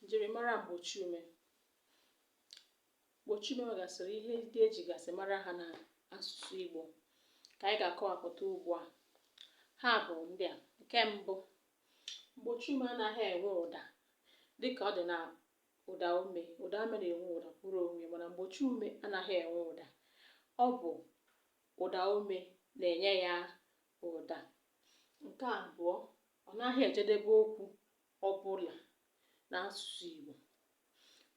njirimara mgbochiume mgbochiume nwegasịrị ihe ndị e jigasị mara ha na asụsụ Igbo ka anyị ga-akọwapụta ugbu a ha bụ ndị a nke mbụ mgbochiume anaghị enwe ụda dịka ọ dị na ụdaume ụdaume na-enwe ụda kwụrụ onwe mana mgbochiume anaghị enwe ụda ọ bụ ụdaume na-enye ya ụda nke abụọ ọ naghị ejedebe okwu ọbụla n'asụsụ Igbo.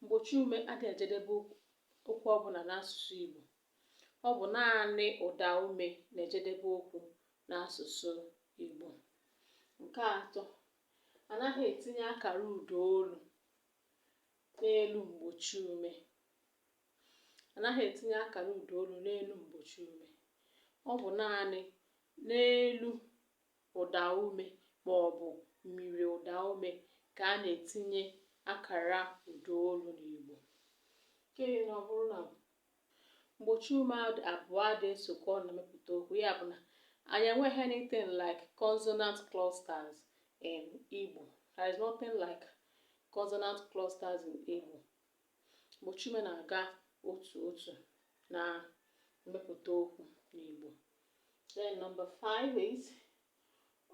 Mgbochiume adịghị ejedebe okwu ọbụla n'asụsụ Igbo. Ọ bụ naanị ụdaume na-ejedebe okwu n'asụsụ Igbo. Nke atọ, anaghị etinye akara ụdaolu n'elu mgbochiume. Anaghị etinye akara ụdaolu n'elu mgbochiume. Ọ bụ naanị n'elu ụdaume maọbụ myiriụdaume ka a na-etinye akara ụdaolu n'Igbo. Nke anọ bụrụ na mgbochiume abụọ adịghị esokọ ọnụ mepụta okwu, ya bụ na anyị enweghị anything like consonant clusters in Igbo. There is nothing like consonant clusters in Igbo. mgbochiume na-aga otu otu na mmepụta okwu n'Igbo. Then number five is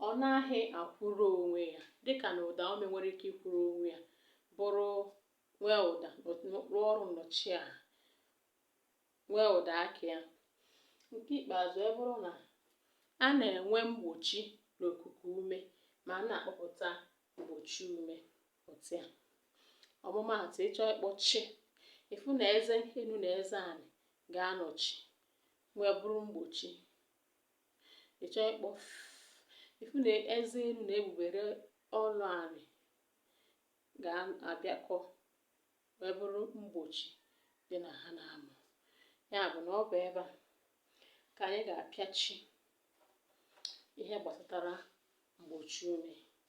ọ naghị akwụrụ onwe ya dịka na ụdaume nwere ike ịkwụrụ onwe ya bụrụ nwee ụda rụọ ọrụ nnọchiaha nwee ụda aka ya. Nke ikpeazụ abụrụ na a na-enwe mgbochi n'okuku ume ma a na-akpọpụta mgbochiume. otu a ọmụmaatụ ị chọọ ịkpọ chi ị fụ na eze enu na eze anị ga-anọchi wee bụrụ mgbochi ị chọọ ịkpọ ị fụ na eze enu na egbugbere ọnụ anị ga-abịakọ wee bụrụ mgbochi dị na ha na-amụ ya bụ na ọ bụ ebe a ka anyị ga-apịachi ihe gbasatara mgbochiume